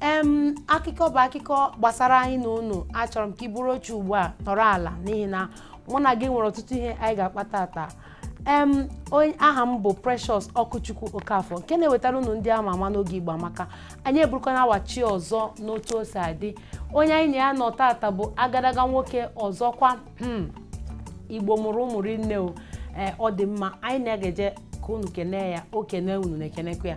em akụkọ bụ akụkọ gbasara anyị na unu achọrọ m ka i buru oche ugbu a nọrọ ala n'ihi na mụ na gị nwere ọtụtụ ihe anyị ga-akpa tata em onye aha m bụ Precious Ọkụchukwu Okafọ nke na-ewetara unu ndị ama ama n'oge Igbo Amaka anyị eburukwana awachi ọzọ n'otu o si adị onye anyị na ya nọ tata bụ agadaga nwoke ọzọkwa hmm, Igbo mụrụ ụmụ rinne o ee ọ dị mma anyị na-egeje ka unu kenee ya o kenee unu na-ekenekwa ya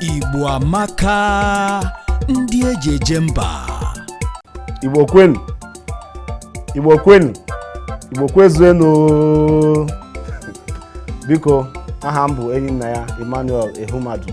Igbo amaka ndị eji eje mba igbo kwenu igbo kwenu igbo kwezuenu biko aha m bụ Enyinnaya Emmanuel Ehumadu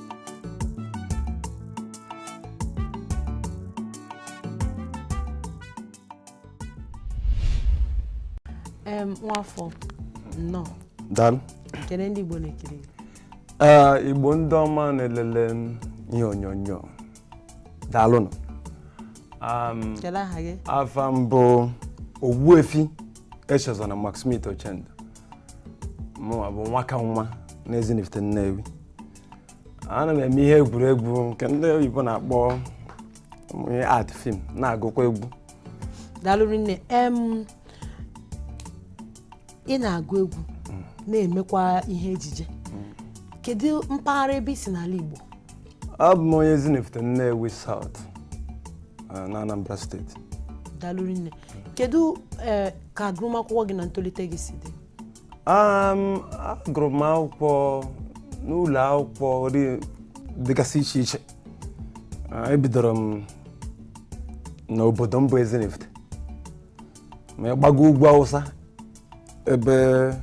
nwafọ nnọọ daalụ kene ndị Igbo na-ekiri ee Igbo ndị ọma na-elele ihe onyonyo daalụnụ kedu aha gị afa m bụ Ogbuefi Echezona McSmith Ochendo mụnwa bụ Nwakanwa n'Ezinifite Nnewi ana m eme ihe egwuregwu nke ndị oyibo na-akpọ ị act film na-agụkwa egwu daalụ rinne em ị na-agụ egwu na-emekwa ihe ejije kedu mpaghara ebe i si n'ala Igbo abụ m onye Ezinifite Nnewi South eh, na Anambra State daalụ rinne kedu eh, ka agụmakwụkwọ gị na ntolite gị si dị Um, agụrụ m akwụkwọ n'ụlọ akwụkwọ dị- dịgasị iche iche Ah, ebidoro m n'obodo m bụ Ezinifite ma ị gbago ugwu Awụsa ebe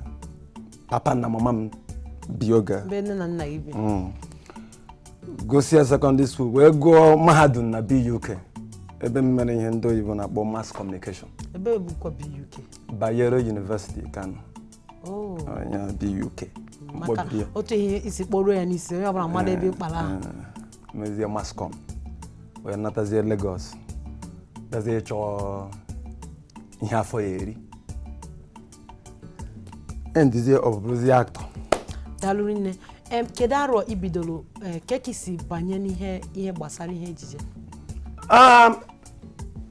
papa na mama m bi oge a. ebe nne na nna gị bi Mm. gụsịa secondary school wee gụọ mahadum na BUK ebe m mere ihe ndị oyibo na-akpọ mass communication ebee bụkwa BUK Bayero University Kano Oh, onye BUK maka mkpọbiri ya otu i si kpọruo ya n'isi onye ọbụla amara ebe ị kpọrọ ahụ Eh, mezie mass comm wee natazie Lagos gazie chọọ ihe afọ ya-eri endizie up bụrụzi actor daalụ rinne em kedu arọ i bidoro eh, ka ka i si banye n'ihe ihe gbasara ihe ejije Um,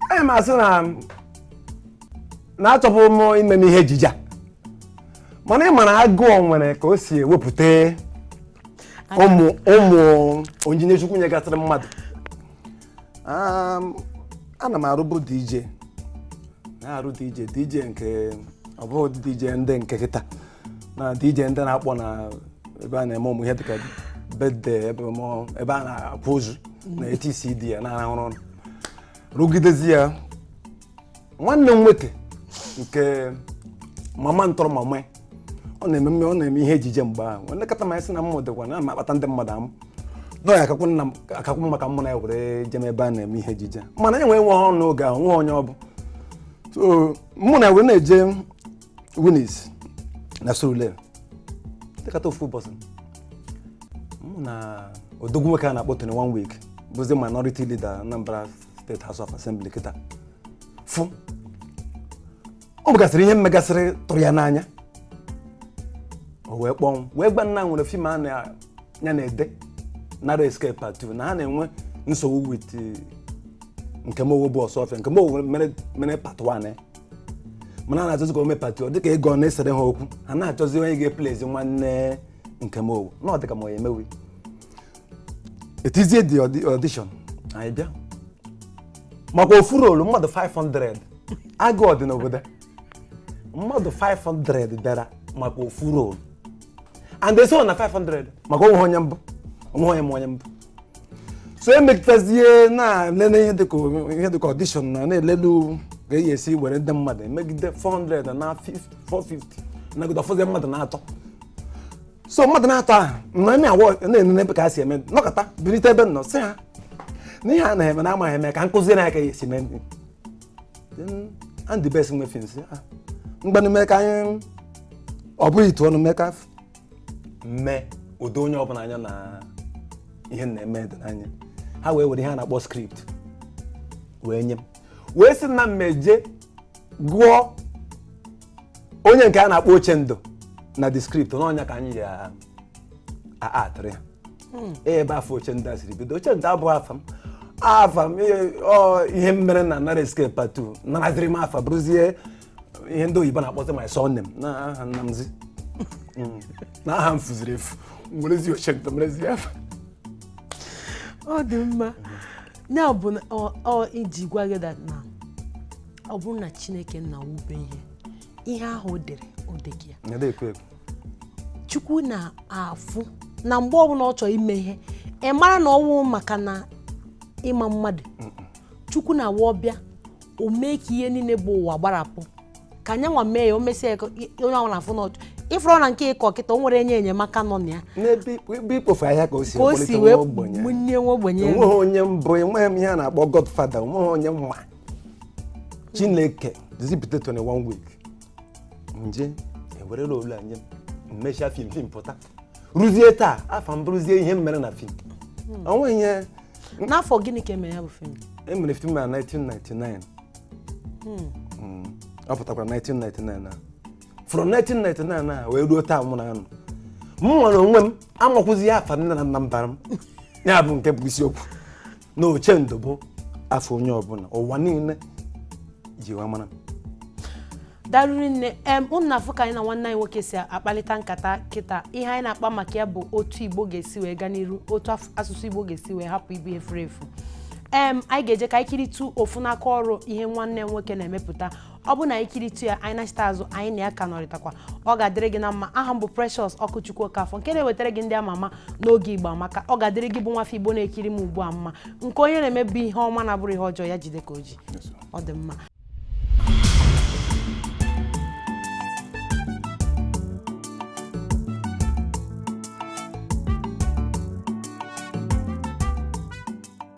anyị ma sị na na achọbu m imeme ihe ejije a. mana ị mara agụụ nwere ka o si ewepụta ụmụ ụmụ onyinye chukwu nyegasịrị mmadụ Um, ana m arụbu dj na-arụ dj dj nke ọ bụghị dj ndị nke kịta na dj ndị na-akpọ na ebe a na-eme ụmụ ihe dịka birthday ebe mọ- ebe a na-akwa ozu na etcd ya na-arụrụ ọrụ rụgidezi ya nwanne m nwoke nke mama ntọrọ mama ọ na-eme mme- ọ na-eme ihe ejije mgbe ahụ o lekọta m anya sị na mmụ dịkwa na m na-akpata ndị mmadụ amụ na ọ ya-akakwu nna m akakwu mma ka mụ na ya were jee ebe a na-eme ihe ejije mana anyị nwee nwe ọrụ n'oge ahụ nwe onye ọ bụ so mụ na ya were na-eje Winis na Surulere dịkata ofu ụbọchị mụ na odogwu nwoke a na-akpọ Tony One Week bụzi minority leader Anambra State House of Assembly kịta fụ o nwegasịrị ihe m megasịrị tụrụ ya n'anya o wee kpọọ mụ wee gwa m na e nwere film a ya na-ede Narrow Escape part 2 na ha na-enwe nsogbu with Nkem Owoh bụ Osuofia Nkem Owoh mere mere part 1 ya mana a na-achọzi ka o mee part 2 ọ dịka ego na-esere ha okwu ha na-achọzi onye ga-eplayzi nwanne Nkem Owoh na ọ dịka mụ ya-emenwu e tizie the audi- audition anyị bịa maka ofu role mmadụ 500 agụụ dị n'obodo mmadụ 500 bịara maka ofu role and they saw na 500 maka o nweghị onye m bụ o nweghị onye ma onye m bụ so e megidezi na-elele ihe dịka ihe dịka audition na na-elele ka a ya-esi were ndị mmadụ e megide 400 na 450 nagide ọ fọzi mmadụ na-atọ so mmadụ na-atọ ahụ na na awa na-enene ebe ka ha si eme nọkata birite ebe m nọ sị ha na ihe ha na-eme na ha amaghị eme ka m kuziere ha ka a ya-esi mee Andy Best nwe film sị ngwanụ mee ka anyị ọ bụghị itu ọnụ mee ka f- mee o doo onye ọbụla anya na ihe m na-eme dị n'anya ha wee were ihe a na-akpọ script wee nye m wee sị na m jee gụọ onye nke a na-akpọ Ochendo na the script na ọ nya ka anyị ya-actịrị ha ee ebe afa Ochendo a siri bido Ochendo abụghị afa m afa m ihe- ọ, ihe m mere na Narrow Escape part two naraziri m afa bụrụzie ihe ndị oyibo na-akpọzi my surname na aha nna m zi Mm. na aha m fuziri efu m werezi Ochendo merezi afa ọ dị mma ya bụ na ọ- ọ iji gwa gị that na ọ bụrụ na chineke nna wube ihe ihe ahụ o dere o dego ya Nyada ekwe ekwe. chukwu na-afụ na mgbe ọbụla ọ chọrọ ime ihe ị mara na ọ wụ maka na ị ma mmadụ chukwu nwa ọ bịa o mee ka ihe niile bụ ụwa gbarapụ ka nya nwa mee ya o mesịa ya ka onye ọbụla na-afụ na ọchụ ị fụrụ na nke ị kọ kịta o nwere onye enyemaka nọ na ya n'ebe ikpo- ebe ikpofu ahịhịa ka o si ka o ekpọlite si nwa wee ogbenye bunie nwa ogbenye enweghị onye m bụ enweghị m ihe a na-akpọ godfada enweghị onye m ma chineke zipụta 21 week nje ewerela olu anya m mesha fim fim pụta ruzie taa afa m bụrụzie ihe m mere na fim o nweghị ihe n'afọ gịnị ka e mere ya bụ fim e mere fim na 1999 Mm. ọ pụtakwara 1999 na from 1999 na wee ruo taa mụ nwanụ m nwere onwe m amakwụzi ya afa nne na nna m bara m ya bụ nke bụ isiokwu na Ochendo bụ afa onye ọbụla ụwa niile ji wee mara m. daalụ rinne em unu na-afụ ka anyị na nwanne anyị nwoke si akpalita nkata kịta ihe anyị na-akpa maka ya bụ otu igbo ga-esi wee gaa n'iru otu af- asụsụ igbo ga-esi wee hapụ ịbụ ihe furu efu em anyị ga-eje ka anyị kiritu ofu n'aka ọrụ ihe nwanne m nwoke na-emepụta ọ bụ na anyị kiritu ya anyị nachita azụ anyị na ya ka nọrịtakwa ọ ga-adịrị gị na mma aha m bụ Precious Ọkụchukwu Okafọ nke na-ewetara gị ndị ama ama n'oge Igbo Amaka ọ ga-adịrị gị bụ nwafọ Igbo na-ekiri m ugbu a mma nke onye na-eme bụ ihe ọma na-abụrọ ihe ọjọọ ya jide ka o ji ọ dị mma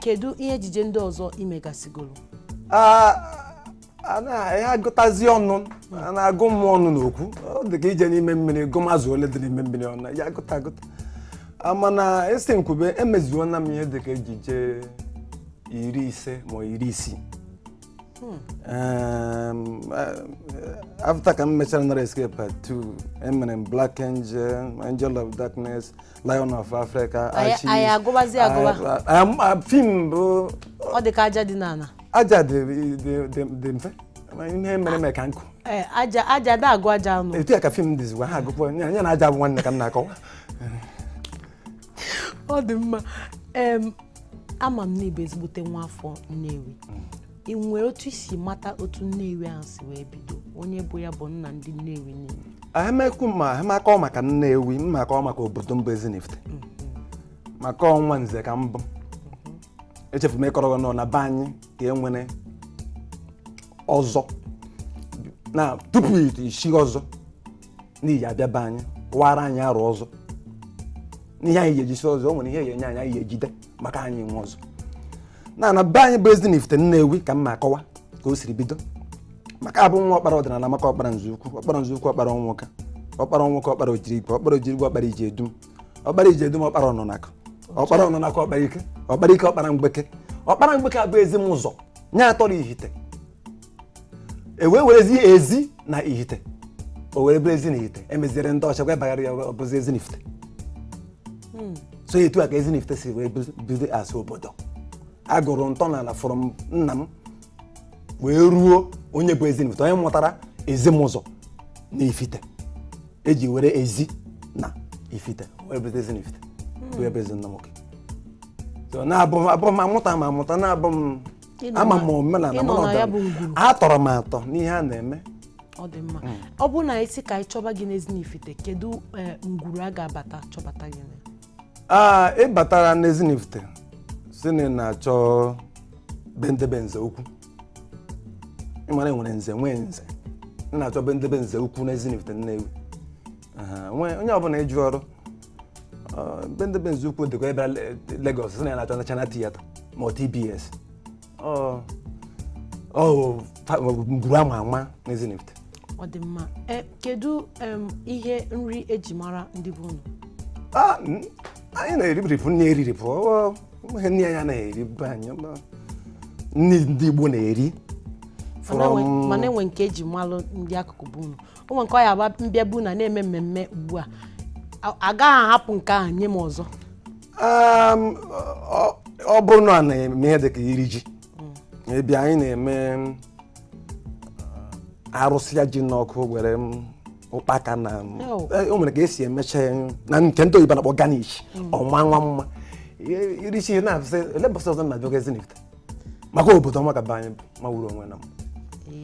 kedu ihe ejije ndị ọzọ ị megasịgoro a a na- ya agụtazi ọnụ a na-agụ m ọnụ n'okwu ọ dị ka ije n'ime mmiri gụma azụ ole dị n'ime mmiri ọnụ ya agụta agụta A, mana a sị m kwube emezuona m ihe dị ka ejije iri ise ma ọ iri isii Um, uh, after ka m mechara narrow escape part 2 emere m black angel angel of darkness lion of africa Anyị- Archie. anyị agụbazi agụba. Ah, ah, m- ah, fim bụ ọ dị ka aja dị n'ala aja dị dị- dị- dị mfe Ma ihe mere mere ka nkụ Ee, aja aja a da agụ aja ọnụ etu ya ka fim dịzikwa ha agụkwa ya ya na aja bụ nwanne ka m na-akọwa ọ dị mma em ama m na ị bụ ezigbote nwa afọ Nnewi ị nwere otu i si mata otu Nnewi ahụ si wee bido onye bụ ya bụ nna ndị Nnewi niile emekwu ma makọọ maka Nnewi m makọọ maka obodo m bụ Ezinifite maka ọ nwa nze ka m bụ echefu m ịkọrọ gị nọ na be anyị ka e nwere ọzọ na tupu isi ọzọ n'ihi abịa be anyị wara anyị arụ ọzọ n'ihe anyị ga-ejisi ọzọ o nwere ihe ga-enye anyị anyị ga-ejide maka anyị nwe ọzọ na na be anyị bụ Ezinifite Nnewi ka m na-akọwa ka o siri bido maka abụ nwa ọkpara ọdịnala maka ọkpara nze ukwu ọkpara nze ukwu ọkpara ọnwụka ọkpara ọnwụka ọkpara ojirigwe ọkpara ojirigwe ọkpara ije edum ọkpara ije edum ọkpara ọnụnakụ ọkpara ọnụnakụ ọkpara ike ọkpara ike ọkpara mgbeke ọkpara mgbeke abụ Ezimụzọ nye atọrọ ihite e wee werezi ezi na ihite o were bụrụ ezi na ihite emeziere ndị ọcha wee bagara ya ọ bụzi Ezinifite so etu a ka Ezinifite si wee bido- bido as obodo a gụrụ ntọala from nna m wee ruo onye bụ Ezinifite onye mụtara Ezimụzọ na ifite eji were ezi na ifite wee bụzi Ezinifite wee bụ ezi nna nwoke so na-abụ m abụ m amụta ma amụta na-abụ m Ị nọ ama na- m omenala ị nọ mana na ya ọdịnala. bụ ngwuru. atọrọ m atọ n'ihe a na-eme ọ dị mma ọ bụrụ na anyị sị ka anyị chọba gị n'Ezinifite kedu eh, ngwuru a ga-abata chọbata gị na aa ị batara n'Ezinifite sị na ị na-achọ be ndị be nze ukwu ị mara e nwere nze nwee nze ị na-achọ be ndị be nze ukwu n'Ezinifite Nnewi Aha, onwe- onye ọbụla ị jụrụ ọ, be ndị be nze ukwu dịkwa ebe Le- Lagos sị na ya na-achọ National Theatre ma ọ TBS ọ ọ fa- ọ ngwuru ama ama n'Ezinifite ọ dị mma Eh, kedu em, ihe nri eji mara ndị be unu Ah, mm, anyị na-eribiripụ nni eriripụ ọ nweghị nni a na-eri be anyị ma nni ndị Igbo na-eri Mana enwe- from mana enwe nke eji malụ ndị akụkụ be unu o nwere nke ọ ya abụ m bịa be unu na-eme mmemme ugbu a A- agaghị ahapụ nke ahụ nye m ọzọ Um, ọ- ọ bụrụ na a na-eme ihe dịka iri ji be anyị na-eme um, arụsịa ji n'ọkụ were um, ụkpaka na um, Oh. eh, o nwere ka esi emecha ya na nke ndị oyibo na-akpọ garnish ọma nwa mma I- iri ji na-asị ole mbọsị ọzọ na-abịa oge Ezinifite maka obodo ọma ka be anyị mawuru onwe na m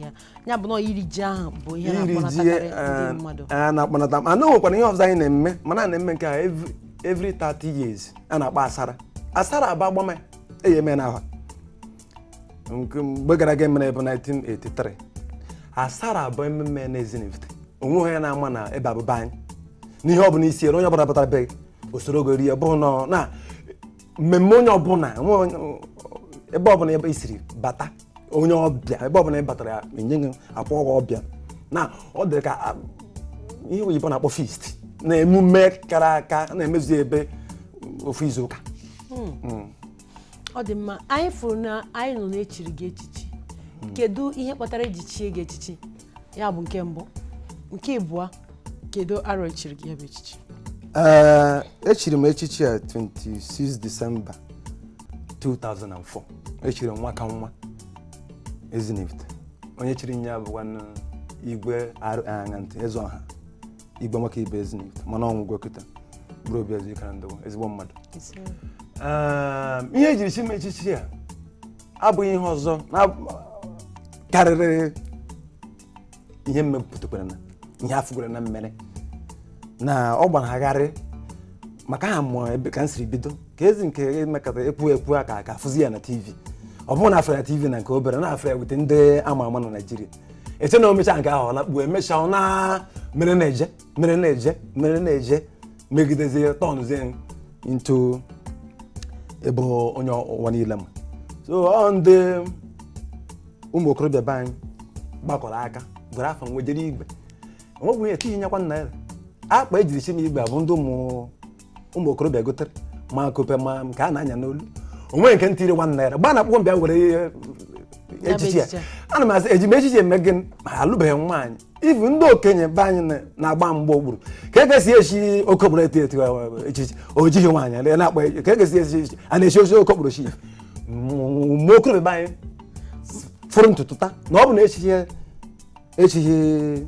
Ya. ya bụ na ọ iri ji ahụ bụ ihe iri ji na-akpọnatakarị eh, ndị mmadụ a na-akpọnata mana o nwekwara ihe ọzọ anyị na-eme mana a na-eme nke a every- every 30 years a na-akpọ asara asara aba agbama ya eyi eme n'aha nke mgbe gara aga emere bụ 1983 asara a bụ ememe na Ezinifite onwe onye na-ama na ebe a bụ be anyị n'ihe ọ bụla i siri onye ọbụla batara be gị o soro gị rie ọ bụghị na na mmemme onye ọbụla nwe onye- ebe ọbụla ebe i siri bata onye ọbịa ebe ọbụla ị batara ya enye gị akpọ gị ọbịa na ọ dị ka a, ihe oyibo na-akpọ feast na emume kara aka na-emezu ebe ofu izu ụka ọ dị mma anyị fụrụ na anyị nụ na e chiri gị echichi kedu ihe kpatara eji chie gị echichi ya bụ nke mbụ nke ịbụọ kedu arọ echiri gị ya bụ echichi ee echiri m echichi a 26 December 2004 echiri m nwa ka nwa Ezinifite onye chiri m ya bụkwa nụ igwe arụ aṅa ntị eze ọha igwe Nwakaibe Ezinifite mana ọ nwụgo kịta bụrụ obi ezi ikara ndụ ezigbo mmadụ Ee, ihe ejiri chi m echichi a abụghị ihe ọzọ na karịrị ihe m mepụtakwara na ihe a fụgoro na m mere na ọ gbanagharị maka aha mụọ ebe ka m siri bido ka ezi nke emekọta ekwu ekwu a ka ka afụzi ya na tv ọ bụrụ na afụ ya tv na nke obere na afụ ya with ndị ama ama na Nigeria eche na o mechaa nke ahụ ọ lakpuo emechaa ọ na mere na-eje mere na-eje mere na-eje megidezie tọnụzie into ebe onye ụwa niile ma so ọ ndị ụmụ okorobịa be anyị gbakọrọ aka were afa m wejere igwe o nweghị ihe tinye nyekwa naira akpa ejiri chi m igwe a bụ ndị ụmụ ụmụ okorobịa gotere ma akupe ma nke a na-anya n'olu o nwe nke m tiri one naira gba na akwụkwọ m bịa were ihe echichi ya ana m asị eji m echichi eme gịnị ma alụbeghị m nwaanyị ihe ndị okenye be anyị na- na-agba mgba okpuru ka e ga-esi echi okokporo eto eto eh, echichi o jighị nwaanyị ele na-akpọ ya- ka e ga-esi echi echichi a na-echi ochi okokporo chi mgbe okorobịa be anyị foro ntutu taa na ọ bụ na echichi echichi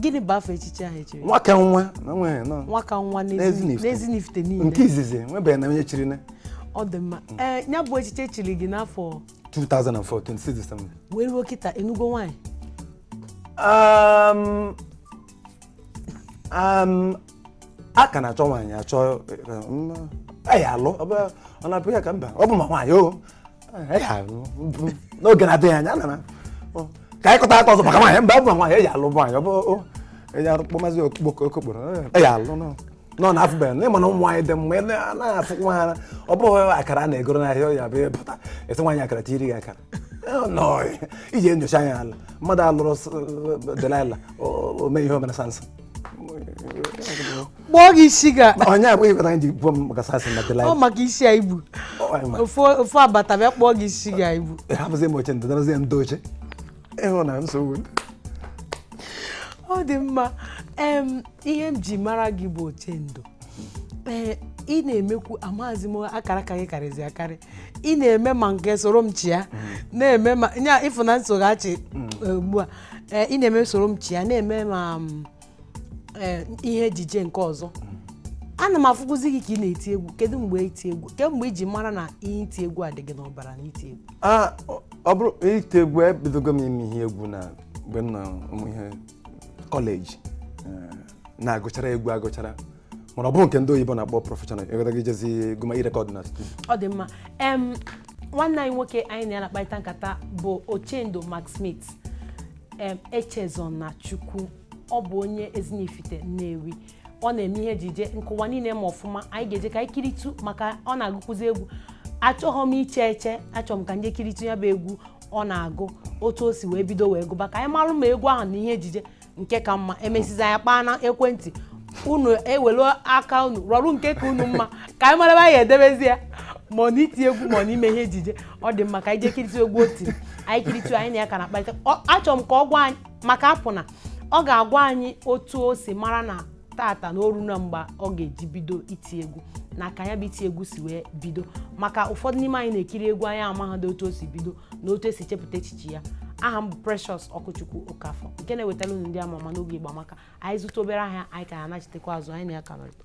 gịnị bụ afa echichi ahụ echiri nwaka nwa na nwere nọ nwaka nwa N'Ezinifite. n'ezinifite niile nke izizi nwebeghị na onye chiri nya ọ dị mma ee ya bụ echichi echiri gị n'afọ 2004 26 December wee ruo kịta ị nụgo nwaanyị Um, um, a ka na-achọ nwaanyị achọ a ya-alụ ọ bụ- ọ na-abụ ya ka mba ọ bụ ma nwaanyị o n'oge na-adịghị anya ana m ọ, ka anyị kọta aka ọzọ maka nwaanyị mba bụ nwaanyị a ya-alụ nwaanyị ọ bụ o, a ya-akpọ mazi okokporo a ya-alụ nọ nọ na afụbeghị na ịma na ụmụ nwaanyị dị mma ele a naghị afụ nwa ha ọ bụghị akara a na-egoro n'ahịa ọ ya bụ ị bata esi nwaanyị akara tiri gị akara Ọ nọ iji enyocha anya ala mmadụ alụrụ s- Delilah o o mee ihe o mere Samson kpụọ gị isi ga onye abụghị kweta anyị ji gbuo m maka Samson na Delilah ọ maka isi a i bu ofu ofu abata bịa kpụọ gị isi ga ibu hapụzi m Ochendo darazie ndị oche ịhụ na nsogbu ọ dị mma em ihe m ji mara gị bụ Ochendo ee ị na-emekwu amaghịzi m akara aka gị karịzi akarị ị na-eme ma nke Sorom Chia na-eme ma ya ịfụna nsoghachi ugbu a ee ị na-eme soro m chịa na-eme ma m, ee, ihe ejije nke ọzọ ana m afụkwụzi gị ka ị na-eti egwu kedu mgbe iti egwu kee mgbe i ji mara na ihe iti egwu a dị gị n'ọbara na iti egwu Ah, ọ- ọ bụrụ iti egwu ebidogo m ime ihe egwu na mgbe m nọ ụmụ ihe kọleji Eh, na-agụchara egwu agụchara mana ọ bụrụ nke ndị oyibo na-akpọ prọfeshọnal ị ghọtago ijezi gụma irekọd na studio ọ dị mma em nwanne anyị nwoke anyị na ya na-akparịta nkata bụ ochendo mcsmith em echezonachukwu ọ bụ onye ezinifite nnewi ọ na-eme ihe ejije nke ụwa niile ma ọfụma anyị ga-eje ka anyị kiritu maka ọ na-agụkwụzi egwu achọghọ m iche eche achọrọ m ka anyị kiritu ya bụ egwu ọ na-agụ otu o si wee bido wee gụba ka anyị marụ ma egwu ahụ na ihe ejije nke ka mma emesizi anyị kpaa na ekwentị unu ewelu aka unu rọrụ nke ka unu mma ka anyị mara ebe a ya-edebezi ya ma ọ na iti egwu ma ọ na ime ihe ejije ọ dị mma ka anyị jee kiritu egwu o tiri anyị kiritu anyị na ya ka na-akparịta Ọ- achọrọ m ka ọ gwa anyị maka apụ na ọ ga-agwa anyị otu o si mara na tata na o runa mgbe ọ ga-eji bido iti egwu na ka ya bụ iti egwu si wee bido maka ụfọdụ n'ime anyị na-ekiri egwu anyị amaghadị otu o si bido na otu esi chepụta echiche ya aha m bụ Precious Ọkụchukwu Okafọ nke na-ewetara unu ndị ama ama n'oge Igbo Amaka anyị zụta obere ahịa anyị ka ya-anachitekwa azụ anyị na ya ka nọrịta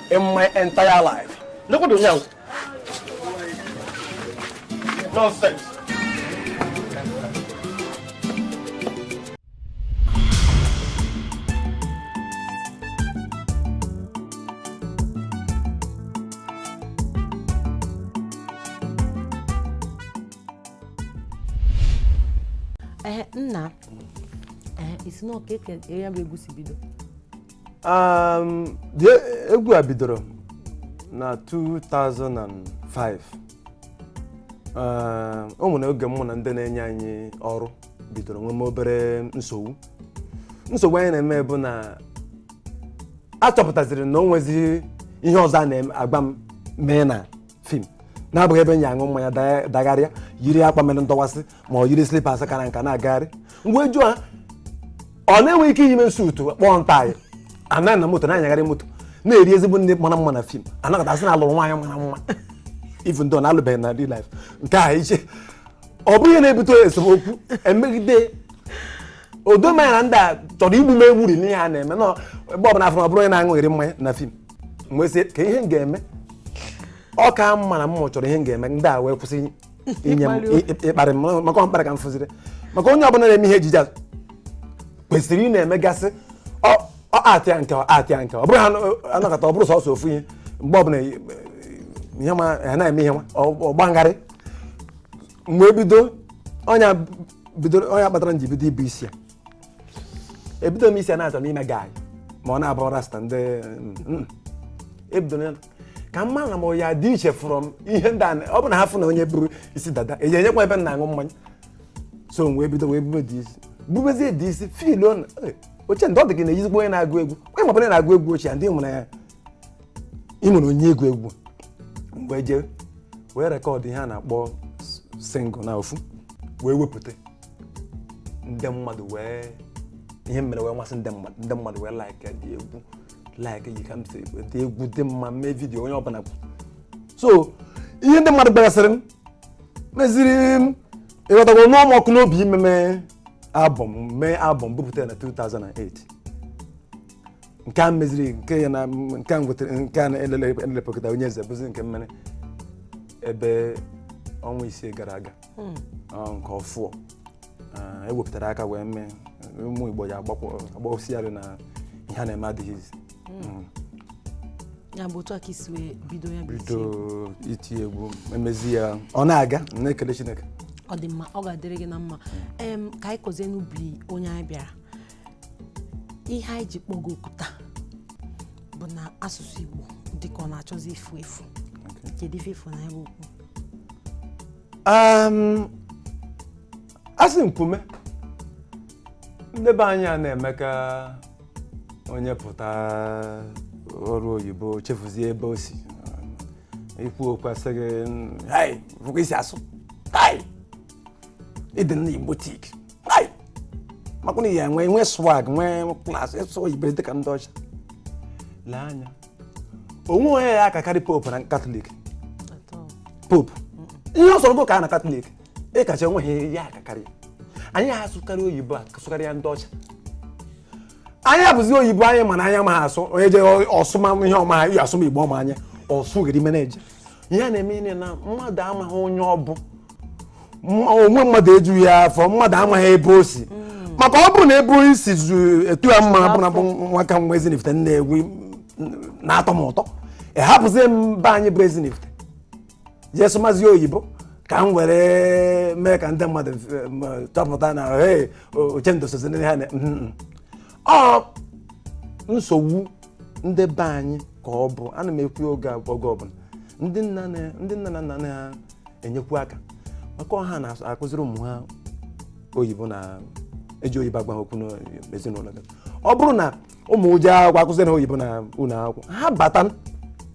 in my entire life. Look at the young. Nonsense. Eh, nna eh, isi na ọka eke ya bụ egwu si bido Um, the- egwu a bidoro na 2005 Um, o nwere oge mụ na ndị na-enye anyị ọrụ bidoro nweme obere nsogbu nsogbu anyị na-eme bụ na achọpụtaziri na o nwezighị ihe ọzọ a na-agwa m mee na fim na-abụghị ebe m ya-aṅụ mmanya da- dagharịa yiri akwa mere ndọwasị ma ọ yiri slipas kara nka na-agagharị m wee jụọ ha ọ na-enwe ike iyime suutu kpọọ m taị anọ na moto na-anyagharị moto na-eri ezigbo nri mara mma na fim a nọkata a sị na alụrụ nwaanyị mara mma even though na alụbeghị na real life nke a iche ọ bụ ihe na-ebute esemokwu emegide o do m anya na ndị a chọrọ igbu m egburi n'ihe a na-eme na ebe ọbụla a fụ m ọ bụrụ onye na-aṅụgharị mmanya na fim m wee sị kee ihe m ga-eme ọ ka mma na m chọrọ ihe m ga-eme ndị a wee kwụsị inye m ị- ịkparị m ma- maka ọ mkparị ka m fụziri maka onye ọbụla na-eme ihe ejije a kwesịrị ị na-emegasị ọ ọ aktịa nke ọ aktịa nke ọ bụrụ ha anọ- anọkata ọ bụrụ sọsọ ofu ihe mgbe ọbụla i- ihe ma ha na-eme ihe nwa ọ gbangharị mgbe bido ọ nya bidoro ọ nya kpatara m ji bido ibu isi ya ebido m isi a na-achọ ime guy ma ọ na-abụ rasta ndị mm, mm. ebido m ka a mara na m ya-adị iche from ihe ndị a na- ọ bụ na ha fụ na onye buru isi dada e jee nyekwa ebe m na-aṅụ mmanya so m wee bido wee bube the isi bubezie the isi feeluo na eh, Ochendo ọ dị gị na-eyizikwa onye na-agụ egwu onye ma ọ bụla na-agụ egwu Ochendo nwere ya ị nwere onye egwu egwu m wee jee wee rekọdụ ihe a na-akpọ single na ofu wee wepụta ndị mmadụ wee ihe mere wee masị ndị mmadụ ndị mmadụ wee likeịa the egwu likeịa ka m si ekwu, the egwu dị mma mee vidiyo onye ọbụla kwu so ihe ndị mmadụ gwagasịrị m meziri m ịghọtago nụọ m ọkụ n'obi imeme albọm mee albọm bupụtara na 2008 nke a meziri nke ya na nke a nwetara nke a na-elelepụta onye eze bụzi nke m mere ebe ọnwa isii gara aga hmm. nke ọfụụ e wepụtara aka wee mee ụmụ Igbo ya agbawụsịgharị na ihe a na-eme adịghị easy hmm. ya bụ otu a ka e si wee bido ya bido iti egwu emezi ya ọ na-aga na-ekele Chineke ọ dị mma ọ ga-adịrị gị na mma ka anyị kọzie n'ubi onye anyị bịara ihe anyị ji kpọ gị oku taa bụ na asụsụ Igbo dịka ọ na-achọzi ifu efu kedu ife ị fụ na ya bụ okwu Um, asị m kwuo ndị be anyị a na-eme ka onye pụta ọrụ oyibo chefuzie ebe o si i kwuo okwu a sị gị "Hai, fụ ka i si asụ hai ị dị nnọọ Igbotic Ai! makwa na ya nwee nwee swag nwee class ịsụ oyibo dịka ndị ọcha lee anya o nweghị onye ya-akakarị pope na Catholic pope ihe ọ sọrọ gị kaa na Catholic ị kachaa o nweghị ya akakarị anyị asụkarị oyibo sụkarịa ndị ọcha anyị abụzi oyibo anyị mana anyị amaha asụ onye je ọsụma ihe ọma ya asụma igbo ọma anyị ọsụ gịrị meneja ihe na-eme ihe na mmadụ amaghị onye ọ bụ Ma onwe mmadụ ejughị ya afọ mmadụ amaghị ebe o si maka ọ bụrụ na ebe onye si zu etu ya mma bụ na bụ nwa ka nwa Ezinifite Nnewi na-atọ m ụtọ ị hapụzie m be anyị bụ Ezinifite jee sụmazie oyibo ka m were mee ka ndị mmadụ eh, m- chọpụta na hey, o- Ochendo sozi ndị ha na Mhm. ọ nsogbu ndị be anyị ka ọ bụ ana m ekwu ya oge ab- oge ọbụla ndị nna na- ndị nne na nna na-enyekwu aka maka ọ ha na-akụziri ụmụ ha oyibo na-eji oyibo agwa ha okwu n'ezinụlọ gị ọ bụrụ na ụmụ gị jee akwụkwọ akụziri ha oyibo na ụlọ akwụkwọ ha bata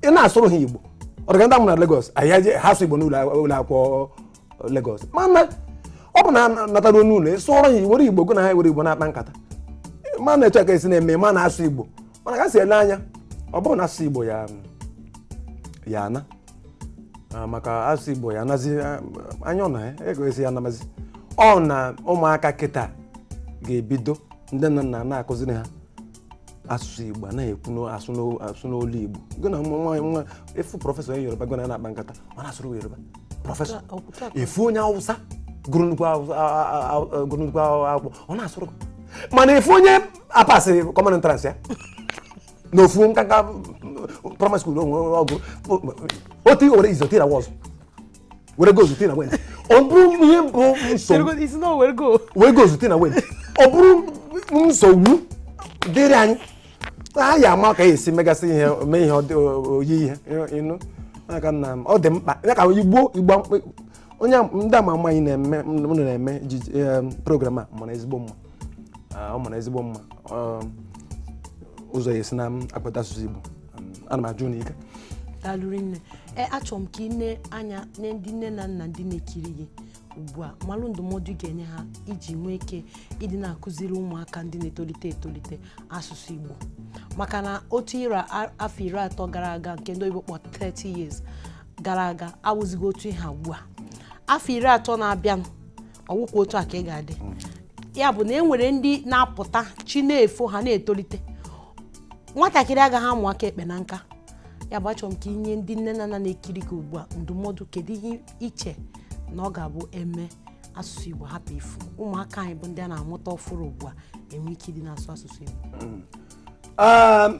ị na-asụrụ ha igbo ọ dịka ndị a mụ na Lagos anyị eje- ha sụ igbo n'ụlọ akwụkwọ Lagos mana ọ bụrụ na natara n'ụlọ ị sụọrọ ha were igbo gụ na ha were igbo na-akpa nkata ma na-eche ka esi na-eme ma na-asụ igbo mana ka si ele anya ọ bụrụ na asụsụ igbo ya ya ana Ah, maka asụsụ igbo ya anazi ah, anya ọ na ya ego esi ya anamazi ọ na ụmụaka kịta ga-ebido ndị nne na nna na-akụziri ha asụsụ igbo a na-ekwu n'o- asụ n'o- asụ n'olu igbo gị na nwa nwa nwa ị fụ professor onye yoruba gị na ya na-akpa nkata ọ na-asụrụ gị yoruba professor ị fụ onye awụsa gụrụ nnukwu awụsa- a- a- a- a- gụrụ nnukwu akwụ- akwụkwọ ọ na-asụrụ gị mana ị fụ onye apasị common entrance ya na ofu nkanka primary school onwe ọ gụ otu i were is tie na was were goes tie na went ọ bụrụ ihe bụ nsogbu Cherugo- isi na o were go were goes tie na went ọ bụrụ nsogbu dịrị anyị a ya-ama ka ya esi megasị ihe mee ihe ọ dị- o- oyi ihe ịnụ Ya ka nna m ọ dị mkpa ya ka igbo igbo mkpa- onye a- ndị ama ama anyị na-eme unu na-eme ejije- em, program a mara ezigbo mma Ah, ọ mara ezigbo mma Ọ- ụzọ ya esi na-akpata asụsụ igbo ana m aja unu ike daalụ rinne e achọrọ m ka ị nee anya na ndị nne na nna ndị na-ekiri gị ugbu a malụ ndụmọdụ ị ga-enye ha iji nwee ike ịdị na-akụziri ụmụaka ndị na-etolite etolite asụsụ Igbo maka na otu ira a- afọ iri atọ gara aga nke ndị oyibo kpọ 30 years gara aga awụzighị otu ihe a ugbu a afọ iri atọ na-abịanụ ọ wụkwa otu a ka ọ ga-adị mm. ya bụ na e nwere ndị na-apụta chi na-efo ha na-etolite nwatakịrị agaghị amụ aka ekpe na nka ya bụ achọrọ m ka i nye ndị nne na nna na-ekiri gị ugbu a ndụmọdụ kedu ihe i che na ọ ga-abụ e mee asụsụ Igbo hapụ ifu ụmụaka anyị bụ ndị a na-amụta ọfụrụ ugbu a enwee ike ịdị na-asụ asụsụ Igbo mm. um,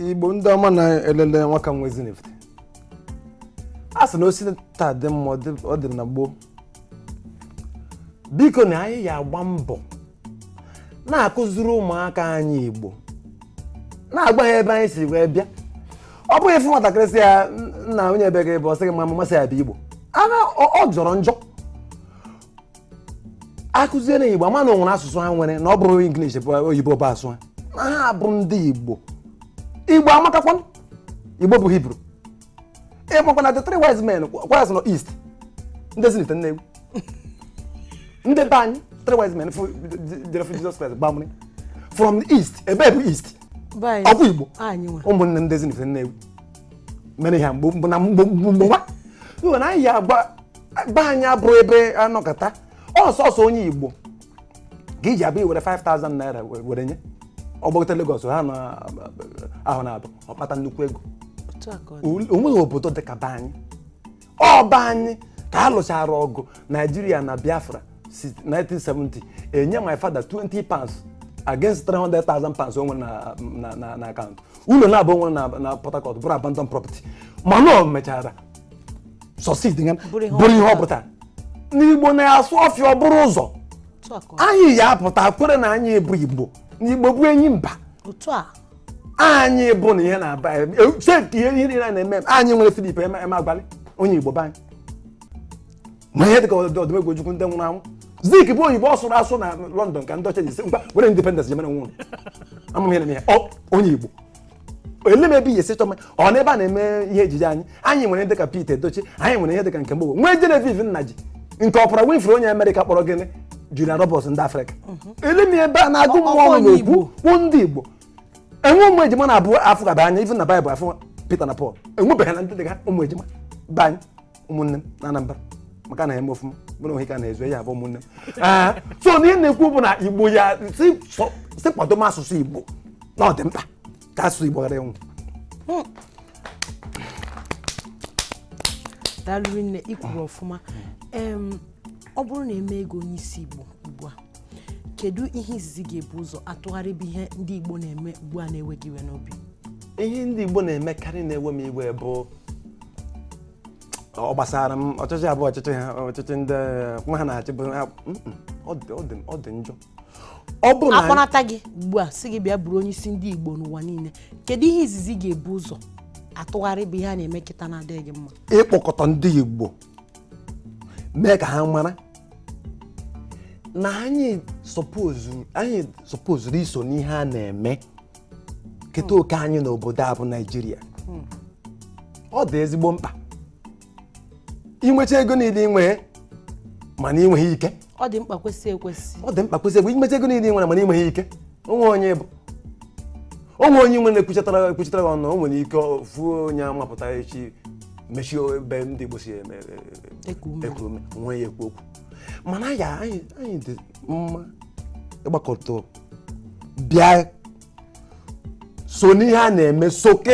Igbo ndị ọma na-elele nwaka nwa Ezinifite a sị na o si taa dị mma ọ dị na gboo biko na anyị ya-agba mbọ na-akụziri ụmụaka anyị igbo na-agwa ha ebe anyị si wee bịa ọ bụghị ị fụ nwatakịrị sị ya "N- nna onye ebe ka ị bụ ọ sị gị ma mama sị ya bụ igbo ana ọ ọ jọrọ njọ akụzie na igbo ama na o nwere asụsụ ha nwere na ọ bụrọ English bụ oyibo bụ asụsụ ha na ha bụ ndị igbo igbo amakakwa igbo bụ hibru ị makwa na the three wise men kwaz nọ east ndị Ezinifite Nnewi ndị be anyị three wise men fụ- jere fụ jizọs kraịst gbamri from the east ebe bụ east Be anyị. ọkwa igbo Anyị nwe. ụmụnne ndị Ezinifite Nnewi mere ihe mgbe mgbe na mgbe mgbe mgbe nwa Iwe na anyị ya agba be anyị abụrụ ebe anọkọta ọsọsọ onye igbo ka iji abịa iwere 5000 naira we- were nye ọ gbagota Lagos ha n'ahọ naabọ ọ kpata nnukwu ego otu a ka ọ dị. Ul- onweghị obodo dị ka be anyị ọ be anyị ka a lụchara ọgụ naijiria na biafra si 1970 enye my father 20 pounds against 300,000 pounds o nwere na- na- na na akaụntụ ụlọ naabọ o nwere na na Port Harcourt bụrụ abandon property mana ọ mechara succeed nga Bụrụ ihe ọ bụrụ ihe ọ pụtara. pụtara na igbo na-asụ ọfịa ọ bụrụ ụzọ otu a ka ọ- anyị ya apụta kwere na anyị bụ igbo na igbo bụ enyi mba otu a anyị bụ na ihe na-aba seti ihe niile a na-eme anyị nwere Philip Emeagwali onye igbo be anyị ma ihe dịka ọdị Odumegwu ojukwu ndị nwụrụ anwụ zik bụ oyibo ọ sụrụ asụ na london ka ndị ọcha ji sị ngwa were independence jemere nwụrụ amụm ihe na ihe ọ onye igbo ele m ebe ihe si chọma ọ n'ebe a na-eme ihe ejije anyị anyị nwere ihe dịka Pete Edochie anyị nwere ihe dịka Nkem Owoh nwee Genevieve Nnaji nke Oprah Winfrey onye Amerịka kpọrọ gịnị Julia Roberts ndị Afrịka ele m ebe a na-agụ Ọ- mmụọ ọkwa ọnụ onye na-ekwu Igbo. kwuo ndị Igbo enwe ụmụ ejima naabọ afụgaba anya ifu na Baịbụl afụ Pita na Pọl enwebeghị na ndị dị ka ụmụ ejima be anyị ụmụnne m na anambra maka na ya eme ọfụma bụrụ ohe ka na-ezu ya abụ ụmụnne m Ah, so na ihe na-ekwu bụ na igbo ya si sọ- si kwado m asụsụ igbo na ọ dị mkpa ka asụsụ igbo ghara ịnwụ daalụ rinne ikwuru ọfụma em ọ bụrụ na emee gị onye isi igbo ugbu a kedu ihe izizi ị ga-ebu ụzọ atụgharị bụ ihe ndị Igbo na-eme ugbu a na-ewe gị iwe n'obi ihe ndị Igbo na-emekarị na-ewe m iwe bụ ọ gbasara m ọchịchị bụ ọchịchị ha ọchịchị ndị nwa ha na-achị bụ ha- mm, mm, ọ dị- ọ dị- ọ dị njọ ọ bụ na akpọnata gị ugbu a sị gị bịa bụrụ onye isi ndị Igbo n'ụwa niile kedu ihe izizi ị ga-ebu ụzọ atụgharị bụ ihe a na-eme kịta na-adịghị gị mma ịkpọkọta ndị Igbo mee ka ha mara na anyị sọpozuru anyị sọpozuru iso n'ihe a na-eme keta oke anyị n'obodo a bụ naijiria ọ dị ezigbo mkpa inwecha ego niile inwe mana inweghị ike ọ dị mkpa kwesị ekwesị ọ dị mkpa kwesị ekwesị inwecha ego niile ị nwere mana inweghị ike onwe onye bụ onwe onye nwere ekwuchatara ekwuchatara gị ọnụ o nwere ike ofu onye amapụta echi mechie ebe ndị Igbo si eme Eku ume. eku ume nwee ya ekwu okwu mana ya anyị anyị dị mma ịgbakọta bịa so n'ihe a na-eme so ka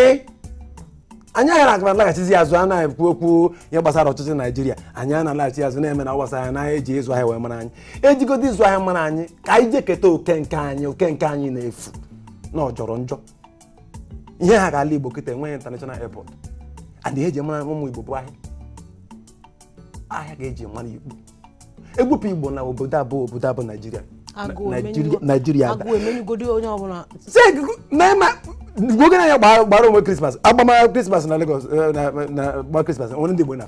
anyị aghara agara alaghachizi azụ a na-ekwu okwu ihe gbasara ọchịchị naijiria anyị a na-alaghachi azụ na-eme na gbasara anyị na eji ịzụ ahịa wee mara anyị ejigodo ịzụ ahịa mara anyị ka anyị jee keta oke nke anyị oke nke anyị na-efu na ọ jọrọ njọ ihe a gaa ala igbo kịta enweghị international airport and ihe eji mara ụmụ igbo bụ ahịa ahịa ka eji mara igbo egwupụ igbo na obodo a bụ obodo a bụ naijiria Agụụ Naijiria- emenyugo- naijiria ada agụụ emenyugodi onye ọbụla oge na ya gbara gbara ọnwa krismas agbama krismas na legos na gba krismas nwere ndị igbo na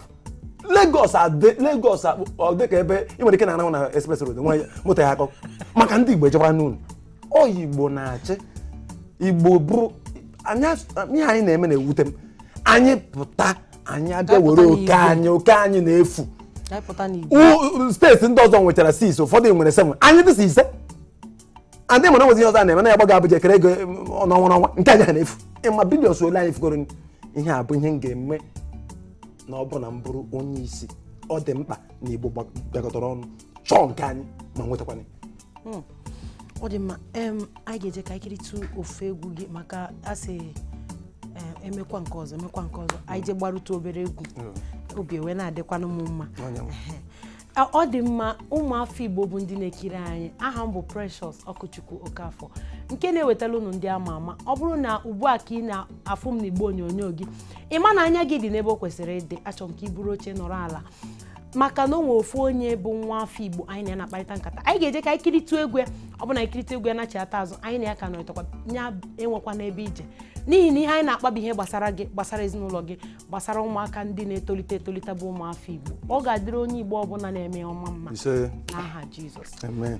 legos adị legos akpụ ọ dị ka ebe ị nwere ike anahụ na express road nwa moto ya akọ maka ndị igbo ejekwa n'ụlọ onye igbo na-achị igbo bụrụ anyị as- ihe anyị na-eme na-ewute m anyị pụta anyị abịa were oke anyị oke anyị na-efu steeti ndị ọzọ nwechara six ụfọdụ nwere seven anyị dị sọ ise and mana o nwezi ihe ọzọ a na-eme na ya gbaga abụja kere ego n'ọnwa n'ọnwa nke anyị a na-efu ị ma billions ole anyị fugoro ihe a bụ ihe m ga-eme na ọ bụ na m bụrụ onye isi ọ dị mkpa na igbo bịakọtara ọnụ chọọ nke anyị ma nwetakwana hmm. ọ dị mma anyị ga-eje ka anyị kiritụ ofu egwu gị maka a sị emekwa nke ọzọ emekwa nke ọzọ anyị je gbarụtụ obere egwu hmm. obi ewee na-adịkwanụ m mma ọ dị mma ụmụafọ igbo bụ ndị na-ekiri anyị aha m bụ Precious Ọkụchukwu Okafọ nke na-ewetala unu ndị ama ama ọ bụrụ na ugbu a ka ị na-afụ m n'igbe onyonyo gị ị ma na anya gị dị n'ebe o kwesịrị ịdị achọrọ m ka ị buru oche nọrọ ala maka na o nwere ofu onye bụ nwa afọ igbo anyị na ya na-akparịta nkata anyị ga-eje ka anyị kiritụ egwu ya ọ bụ na anyị kiritụ egwu ya nachighata azụ anyị na ya ka nọrịtakwa ya enwekwana ebe ị je n'ihi na ihe anyị na-akpa bụ ihe gbasara gị gbasara ezinụlọ gị gbasara ụmụaka ndị na-etolite etolite bụ ụmụafọ igbo ọ ga-adịrị onye igbo ọbụla na-eme ihe ọma mma n'aha jizọs amen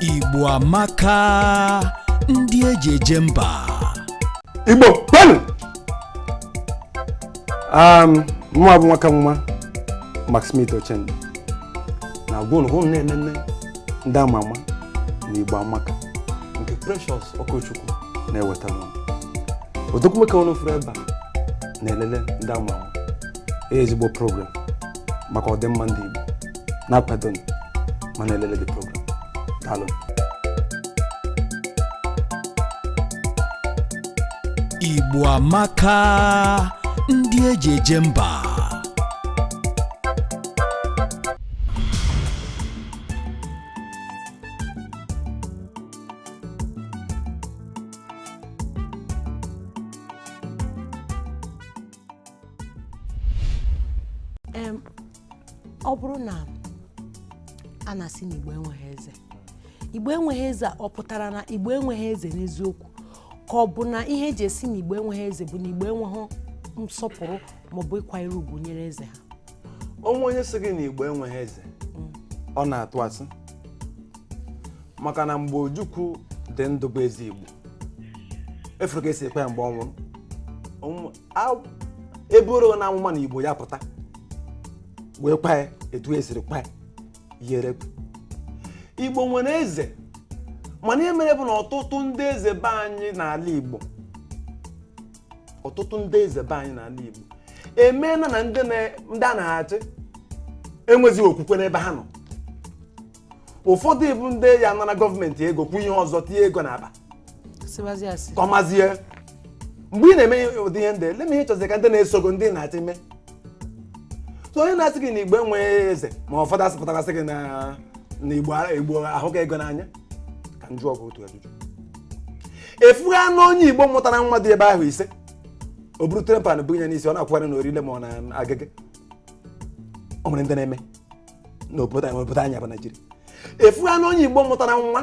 Igbo amaka ndị eji eje mba igbo kwenu mụa bụ nwaka nwa McSmith Ochendo na-agwa unu unu na-enene ndị ama ama na igbo amaka nke precious ọkụchukwu na-ewetara unu odogwu nwoke unu fụrụ ebe a na-elele ndị ama ama Ihe ezigbo program maka ọdịmma ndị igbo na-akwadonụ ma na-elele the program daalụ Igbo amaka ndị eji eje mba Em, ọ bụrụ na a na-asị na igbo enweghị eze igbo enweghị eze a, ọ pụtara na igbo enweghị eze n'eziokwu ka ọ bụ na ihe eji asị na igbo enweghị eze bụ na igbo enweghị nsọpụrụ maọbụ ịkwanyere ugwu nyere eze ha o nwee onye sị gị na igbo enweghị eze ọ na-atụ asị maka na mgbe ojukwu dị ndụ bụ eze igbo ị fụrụ ka esiri kwaa ya mgbe ọ nwụrụ eburu na amụma na igbo ya pụta wee kwaa ya etu esiri kwaa ya yere igbo nwere eze mana ihe mere bụ na ọtụtụ ndị eze be anyị n'ala igbo ọtụtụ ndị eze be anyị n'ala Igbo emeela na ndị ha na-achị enwezi okwukwe n'ebe ha nọ ụfọdụ bụ ndị ya-anara gọọmenti ego kwuo ihe ọzọ tinye ego n'akpa kọmazie mgbe ị na-eme ụdị ihe ndị olee ihe ị chọzi ka ndị na-eso gị ndị ị na-achị mee so onye na-asị gị na igbo enweghị eze ma ụfọdụ asị pụtara sị gị na igbo ahụka ego n'anya ka m jụọ gị otu ajụjụ ị fụghịnụ onye igbo mụtara nwa dị ebe ahọ ise o buru tray pan bunye n'isi ọ na-akwụgharị na orile ma ọ na Agege o nwere ndị na-eme n'obodo anyị bụ naijiria ị fụghịnụ onye igbo mụtara nwa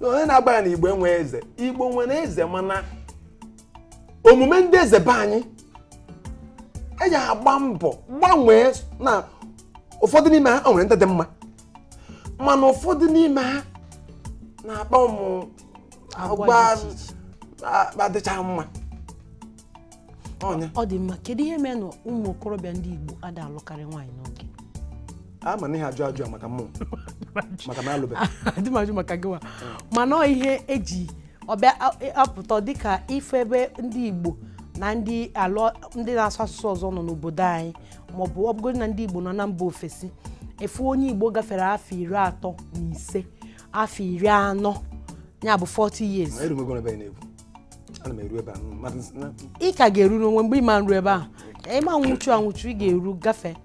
na onye na-agwa ya na igbo enwe eze igbo nwere eze mana omume ndị eze be anyị e ya-agba mbọ gbanwee na ụfọdụ n'ime ha o nwere ndị dị mma mana ụfọdụ n'ime ha na-akpa ụmụ agwa adịcha mma ọ dị mma kedu ihe mere na ụmụ okorobịa ndị Igbo ada alụkarị nwaanyị n'oge ama m na ị ya-ajụ maka mmụ maka na alụbeghị adị m ajụ maka gịwa mana ọ ihe eji ọbịa e, apụta dịka ife ebe ndị Igbo na ndị na-asụ asụsụ ọzọ nọ n'obodo anyị maọbụ ọ bụgodị na ndị Igbo nọ na mba ofesi ị fụ onye Igbo gafere afọ iri atọ na ise afọ iri anọ ya bụ 40 years ana m eru ebe a mmadụ si na ị ka ga-eru n'onwe mgbe ị ma eru ebe ahụ ị ma nwụchu anwụchu ị ga-eru gafee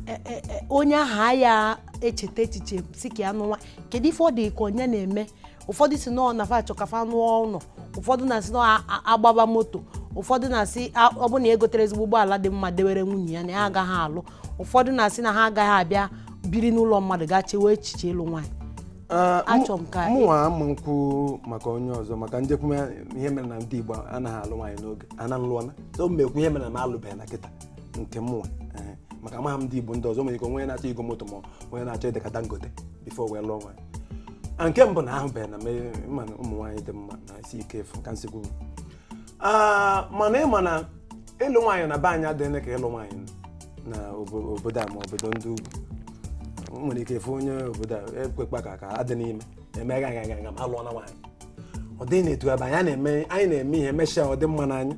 E- e- e, onye ahụ aya echeta echiche sị ka ya nụwa kedu ife ọ dị ka ọ nya na-eme ụfọdụ sị nọọ na fa achọ ka fa lụọ ụlọ ụfọdụ na-asị nọọ agbaba moto ụfọdụ na-asị a- ọ bụ na ya gotere ezigbo ụgbọala dị mma dewere nwunye ya na ya agaghị alụ ụfọdụ na-asị na ha agaghị abịa biri n'ụlọ mmadụ gaa chewe echiche ịlụ nwaanyị Ah, mụ- Achọ m ka- mụnwa ama m kwu maka onye ọzọ maka m je kwume ihe mere na ndị igbo anaghị alụ nwaanyị n'oge ana nlụọna so m mekwu ihe mere na m alụbeghị na kịta nke mụnwa Ee, maka amaghị m ndị igbo ndị ọzọ nwere ike onye na-achọ igo moto ma onye na-achọ ịdị ka Dangote before wee lụọ nwaanyị ah nke mbụ na ahụbeghị na me- ma na ụmụ nwaanyị dị mma na-esi ike ịfụ ka m si kwu Ah, mana ị ma na ịlụ nwaanyị na be anyị adịghị ka ịlụ nwaanyị na obo- obodo a ma obodo ndị ugwu O nwere ike fụ onye obodo a keke ka ka adị n'ime eme ga ga ga ga ma alụọna nwaanyị ọ dịghị n'etu a be anyị a na-eme anyị na-eme ihe emechaa ọ dị mma n'anya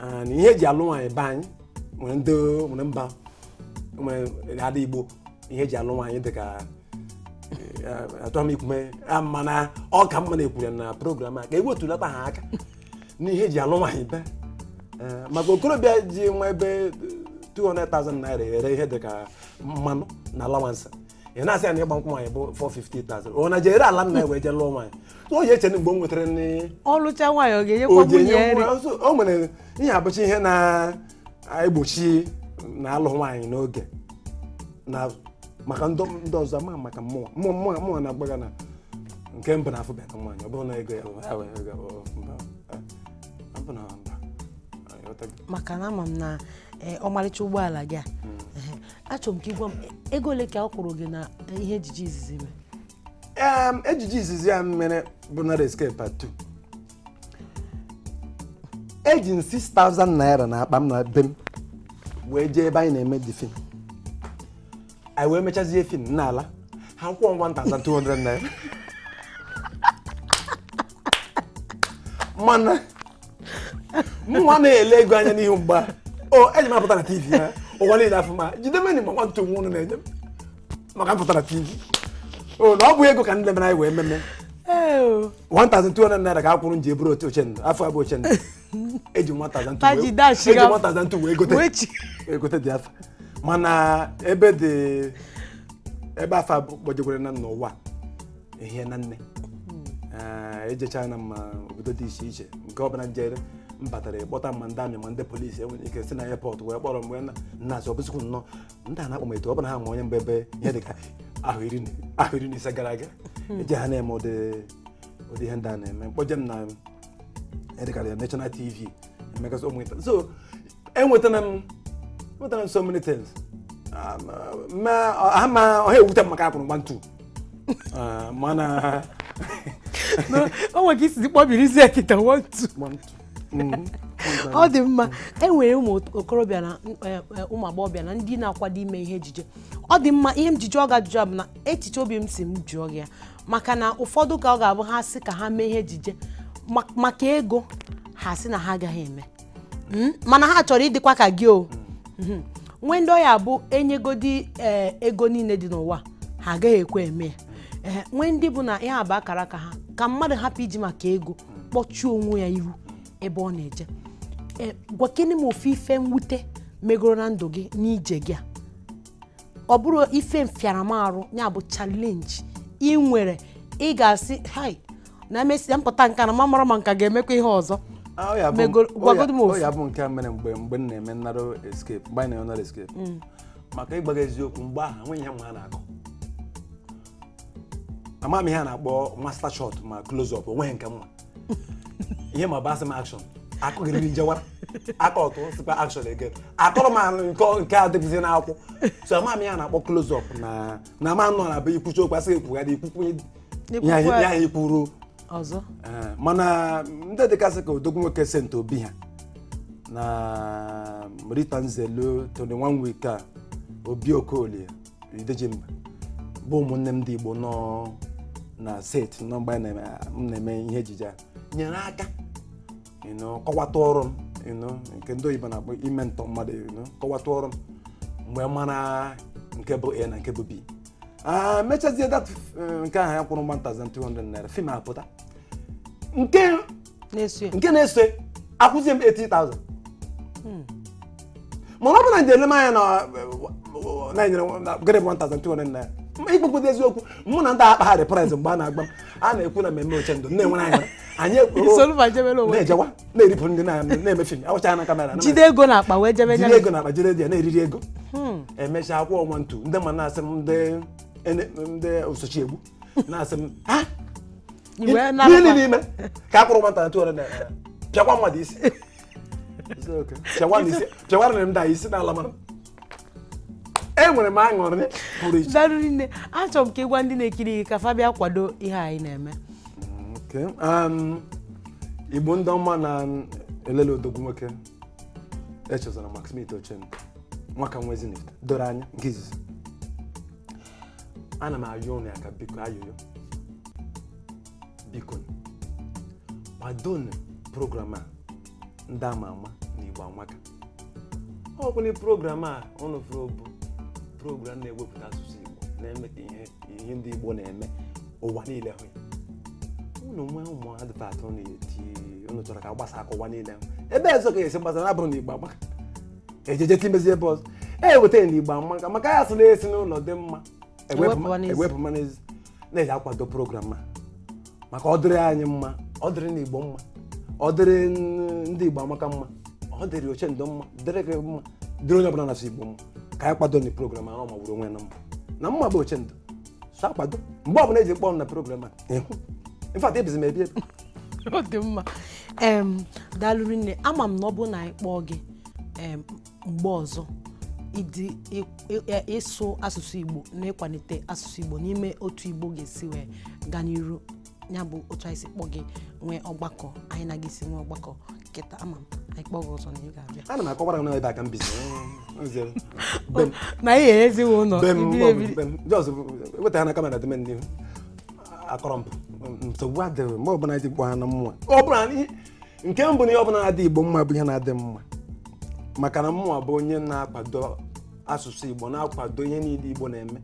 Ah, na ihe eji alụ nwaanyị be anyị nwere ndị nwere mba nwere ada igbo ihe eji alụ nwaanyị dị ka achọghị m ikwu mee a mana ọ ka mma na-ekwuru ya na program a ka e wetulata ha aka n'ihe eji alụ nwaanyị be Ee, maka okorobịa ji maybe 200,000 naira eri ihe dịka annual allowance ị na-asị ya na ịgba nkwụ nwaanyị bụ 450,000 ọ na-eje ree ala nna ya wee jee lụọ nwaanyị so o ji eche na mgbe o nwetara nri ọ lụcha nwaanyị ọ ga-enyekwa o ji nwunye enye nri nwa- so, o nwere ike abụcha ihe na egbochi na alụ nwaanyị n'oge na maka ndị ndị ọzọ ma maka mụwa mụwa mụwa mụwa na-agbaga na nke mbụ na afụbeghị nwaanyị ọ bụrụ na ego ya ọ ya wee ego ọ mba eh, ọ bụ na mba Anyị ghọtago. maka na ama m na eh, ọmarịcha ụgbọala gị a ehe, achọrọ m ka ị gwa m eh, ego ole ka a kwụrụ gị na eh, ihe ejije izizi i mere Em, ejije izizi ya mere bụ Narrow Escape part 2 eji m 6000 naira n'akpa m na be m wee jee ebe anyị na-eme the film anyị wee mechazie film n'ala ha kwụọ m 1200 naira mana mụwa anaghị ele ego anya n'ihi mgbe ahụ eje m apụta na tv ya ụwa niile afụ m jidemeni ma one two nwa ụnụ na-enye m maka m pụta na tv o na ọ bụ ego ka ndị mere anyị wee meme 1200 naira ka a kwụrụ m ji e bụrụ otu Ochendo afa a bụ Ochendo eji 1200 Pa ji wee- dash eji gafụ. 1200 wee gote Wechi. wee gote the afa mana ebe dị ebe afa ahụ gbajegoro na n'ụwa ehie na nne Eh, ejechana m obodo dị iche iche nke ọbụla m jere m batara ịkpọta ma ndị army ma ndị polisi e nwere ike si na airport wee kpọrọ m wee na nnazi ọ bụzikwu nnọọ ndị a na-akpọ m etu ọ bụla ha ma onye m bụ ebe ihe dị ka ahọ iri na- ahọ iri na ise gara aga eji ha na-eme ụdị ụdị ihe ndị a na-eme mkpọje m na ihe dị ka the national tv emekasị ụmụ nta so enwetara m enwetara m so many things Ah, ma- ma ha ma ọ ha ewute m maka a kwụrụ m one two Ah, mana o nwere ka i si kpọbirizie kịta one two mgba ntu mm-hmm. ọ dị mma e nwere ụmụ okorobịa na e, e, ụmụ agbọghọbịa na ndị na-akwado ime ihe ejije ọ dị mma ihe m ji jụọ gị ajụjụ bụ na echiche obi m sị m jụọ gị ya maka na ụfọdụ ka ọ ga-abụ a sị ka ha mee ihe ejije maka ego ha sị na ha agaghị eme hmm? mana ha chọrọ ịdịkwa ka gị o hmm. nwee ndị ọ ya-abụ e nyegodi eh, ego niile dị n'ụwa ha agaghị ekwe eme ya eh, nwee ndị bụ na ihe a bụ akara aka ha ka mmadụ hapụ iji maka ego kpọchie onwe ya ihu ebe ọ na-eje e, gwakene m ofu ife mwute megoro na ndụ gị n'ije gị a ọ bụrụ ife mfịara m arụ ya bụ challenge ị nwere ị ga-asị hai na emesịa m pụta nke a na m amarọ ma m ka ga-emekwa ihe ọzọ Ah, ọ ya bụ- Megoro- ọ ya- gwagodu m ọ ofu. ya bụ nke a mere mgbe mgbe m na-eme narrow escape mgbe anyị na-eme narrow escape maka ịgwa gị eziokwu mgbe ahụ enweghị ihe m ma a na-akọ ama m ihe a na-akpọ master shot ma close up o nweghị nke m ma ihe m ma bụ a sị m action akụ gịrịrị m jewara a cut-ụọ sịkwa action again akọrọ m ahụ nke nke a dịbụzi n'akwụ so ama m ihe a na-akpọ close up na na ama nọ na be i kwuchaa okwu a sị gị kwugharịa i kwukwaa ihe anyị- ihe anyị kwuru ọzọ Ee, mana ndị dịgasị ka odogwu nwoke saint obi ha na rita nzelu tony one week a obi okoli Idejimba bụ ụmụnne m ndị Igbo nọ na set nọ mgbe anyị na-eme- m na-eme ihe ejije a nyere aka you know, kọwata ọrụ m you know, nke ndị oyibo na-akpọ ịmentor mmadụ you know, kọwata ọrụ m mgbe mara nke bụ a na nke bụ b Ah, mechazie dat eh, nke ahụ ya kwụrụ 1200 naira fim apụta nke na-eso ya nke na-eso ya, akwụzie m 80,000 mana ọ bụ na njem anya na na enyere m- na grade 1200 naira Ma ikpekwudo eziokwu mụ na ndị a akpaghị price mgbe a na-agba m a na-ekwu na mmemme Ochendo na-enwere anyị anyị ekwu- Isolu ma jebere onwe gị. na-ejewa na-eripụ ndị na- na-eme fim awụchaghị na kamera na- jide ego na akpa wee jebe jiri nyere ego na akpa jiri ya na-eriri ego emechaa a kwụọ one two ndị ma na-asị m ndị ene- ndị osochi egbu na-asị m "Ah, Iwe gịnị na-abakwa. n'ime ka a kwụrụ 1200 naira pịakwa mmadụ isi Isi oke. Pịakwa na isi- pịakwara na m daa isi n'ala mana enwere m aṅụrị pụrụ iche daalụ nne achọrọ m ka ị gwa ndị na-ekiri gị ka fa bịa kwado ihe anyị na-eme Okay. Um, igbo ndị ọma na-elele odogwu nwoke Echezona McSmith Ochendo nwaka nwezinif doro anya nke izizi ana m ayọ ụnụ ya ka biko ayọyọ biko kwadonu program a ndị ama ama na igbo amaka ọ bụla program a ụnụ fụrụ bụ program na-ewepụta asụsụ igbo na-eme ka ihe ihe ndị igbo na-eme ụwa niile hụ ya ụnụ nwee ụmụ advert ụnụ eti ụnụ chọrọ ka a gbasaa ka ụwa niile hụ ebe ọzọ ka esi gbasa na abụrọ na igbo amaka ejeje timezi ebe ọzọ e weta na igbo amaka maka ya sị na-esi n'ụlọ dị mma e wee pụma n'ezi na-eji akwado program a maka ọ dịrị anyị mma ọ dịrị na igbo mma ọ dịrị n- ndị igbo amaka mma ọ dịrị Ochendo mma dịrị gị mma dịrị onye ọbụla na-asụ igbo mma ka anyị kwadonu program ahụ magburu onwe ya na mma na mụwa bụ Ochendo so akwado mgbe ọbụla eji kpọọ m na program a ịhụ in fact ebizi m ebi ebe a ọ dị mma em daalụ rinne ama m na ọ bụrụ na anyị kpọọ gị em mgbe ọzọ ịdị ị- ị- ị- ịsụ asụsụ igbo na ịkwalite asụsụ igbo n'ime otu igbo ga-esi wee gaa n'iru ya bụ otu anyị si kpọ gị nwee ọgbakọ anyị na gị si nwee ọgbakọ kịta ama m anyị kpọ gị ọzọ na ị ga-abịa ana m akọwara gị na ebe a ka m bizi Nze, be m, na anyị erezighị ụlọ be m, ibiri ọ bụ ebiri. be m. Just weta ha na kamera dị m n'ihu akọrọ m nsogbu adịghị mgbe ọbụla eji kpọọ na mụwa ọ bụla anyị- nke mbụ na ihe ọbụla na-adị igbo mma bụ ihe na-adị m mma maka na mụwa bụ onye na-akwado asụsụ igbo na-akwado ihe niile igbo na-eme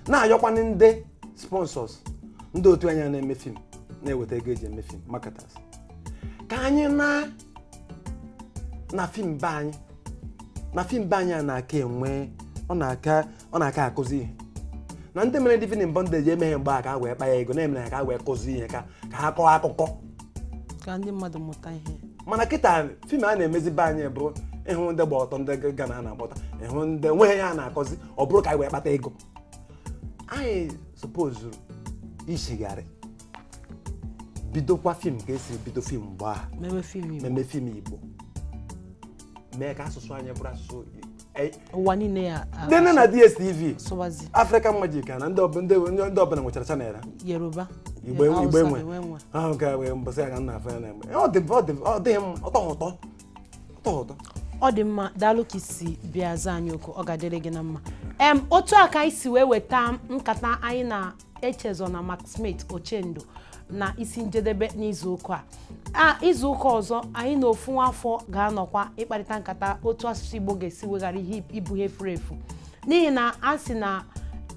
na-ayọkwanụ ndị sponsors ndị otu anyị na-eme fim na-eweta ego eji eme fim marketers ka anyị na na fim be anyị na fim be anyị a na-aka enwe ọ na-aka ọ na-aka akụzi ihe na ndị mere living in bondage emeghe mgbe a ka ha wee kpa ya ego na-emere ha ka ha wee kụzi ihe ka ka ha kọọ akụkọ ka ndị mmadụ mụta ihe mana kịta fim a na-emezi be anyị bụ ihe ndị gba ọtọ ndị ghana a na-agba ọtọ ihe ndị nweghị ihe a na-akụzi ọ bụrụ ka anyị wee kpata ego anyị sopozuru ichigharị bidokwa fim ka esi bido fim mgbe a meme fim igbo meme fim igbo mee ka asụsụ anyị bụrụ asụsụ e- ụwa niile ya-enene na dstv sụwazi african magic na ndị ọbụ- ndị ndị ọbụla nwechara channel ha yoruba igbo enwe- igbo Hausa enwe enwe. ahụ ka wee mbọsị ya ka nna afọ ya na-eme ọ dị ọ dị ọ dịghị mma ọ tọghị ụtọ tọọ ụtọ ọ dị mma daalụ ka i si bịa zaa anyị oku ọ ga-adịrị gị na mma em otu a ka anyị si wee weta nkata anyị na Echezona McSmith Ochendo na isi njedebe n'izu ụka a a izu ụka ọzọ anyị na ofu nwa afọ ga-anọkwa ịkparịta nkata otu asụsụ Igbo ga-esi wee ghara ịbụ ihe furu efu n'ihi na a sị na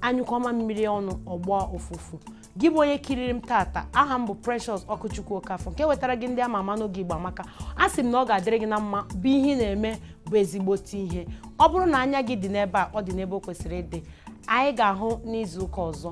a nyụkọọ mamịrị ọnụ ọ gbọọ ụfụfụ gị bụ onye kiriri m tata aha m bụ Precious Ọkụchukwu Okafọ nke wetara gị ndị ama ama n'oge Igbo Amaka a sị m na ọ ga-adịrị gị na mma bụ ihe ị na-eme bụ ezigbote ihe ọ bụrụ na anya gị dị n'ebe a ọ dị n'ebe o kwesịrị ịdị anyị ga-ahụ n'izu ụka ọzọ